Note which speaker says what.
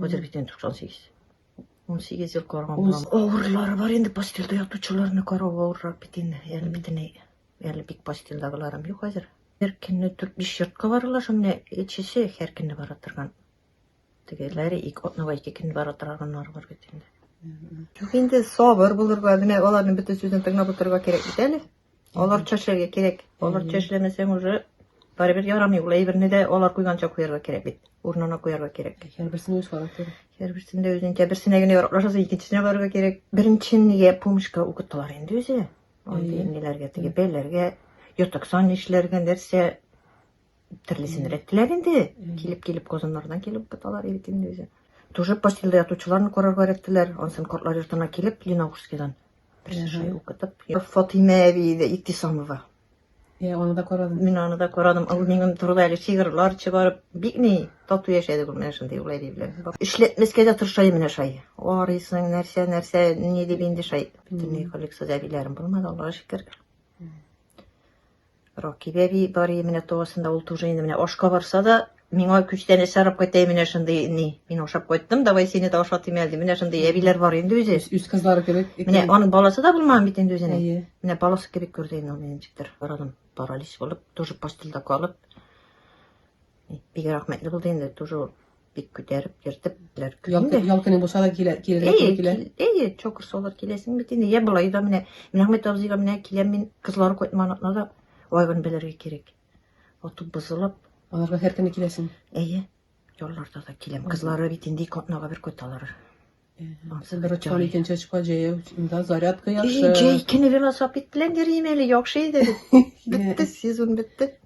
Speaker 1: Хәзер бит инде 98. 18 ел караган булам. Авырлары бар инде постельдә ятучыларны карау авыррак бит инде. Әле битеней. Әле бик постельдагыларым юк хәзер. Һәр көнне 4-5 йортка баралар шул менә эчесе һәр көнне бара торган. Тегеләре ике атнага ике көн бара торганнар бар бит инде. Юк инде сабыр булырга, менә аларның бөтен сүзен тыңлап утырырга кирәк бит әле. Аларча эшләргә кирәк. Аларча эшләмәсәң уже барыбер ярамый. Ул әйберне дә алар куйганча куярга кирәк бит. Урынына куярга кирәк. Һәрберсен үз характер.
Speaker 2: Һәрберсендә үзенчә
Speaker 1: берсенә генә яраклашасы, икенчесенә барырга кирәк. Беренчен нигә помощка укыттылар инде үзе. Андый ниләргә теге бәйләргә, ятаксан эшләргә нәрсә Төрлесен рәттеләр инде. Килеп-килеп Казаннардан килеп буталар Иркин үзе. Тоже постельдә ятучыларны карарга рәттеләр. Ансын кортлар йортына килеп Ленаушскидан. Берсенче укытып. Фатыйма әби иде Иктисамова. Е, аны
Speaker 2: да карадым. Мин аны да карадым. Ул
Speaker 1: минем турыда әле шигырьләр чыгарып, бик ни тату яшәде ул менә шундый улай диләр. Эшләтмәскә дә тырышай менә шай. Арыйсың, нәрсә, нәрсә, ни дип инде шай. Бөтенләй коллексия әбиләрем булмады, Аллага шөкер. Ракиб әби бар иде менә туасында, ул тоже инде менә ашка барса да, миңа күчтән эш арап кайтайын менә шундый ни. Мин ашап кайттым, давай сине дә ашатыйм әле. Менә шундый әбиләр бар инде үзе. Үз кызлары кебек.
Speaker 2: Менә аның баласы да
Speaker 1: булмаган бит инде үзенең. Әйе. Менә баласы кебек күрде инде аны ничектер. Барадым паралич булып, тоже постельдә калып. Бик рәхмәтле булды инде, тоже бик күтәреп, йөртеп беләр. Ял көне
Speaker 2: булса да килә, килергә туры килә. Әйе, чокыр салыр
Speaker 1: киләсең бит инде. Я болай да менә Мирахмет абзыйга менә киләм мин, кызлар кайтмаган атна да вайгын белергә кирәк. Отып бозылып. Аларга һәр көне
Speaker 2: киләсең. Әйе. Ялларда
Speaker 1: да киләм. Кызлары бит инде ике атнага бер кайталар. Ансы
Speaker 2: бер очкан икенче очка җәяү да зарядка яхшы.
Speaker 1: Җәй көне велосипед
Speaker 2: белән
Speaker 1: йөрим әле, яхшы иде. Бетте сезон бетте.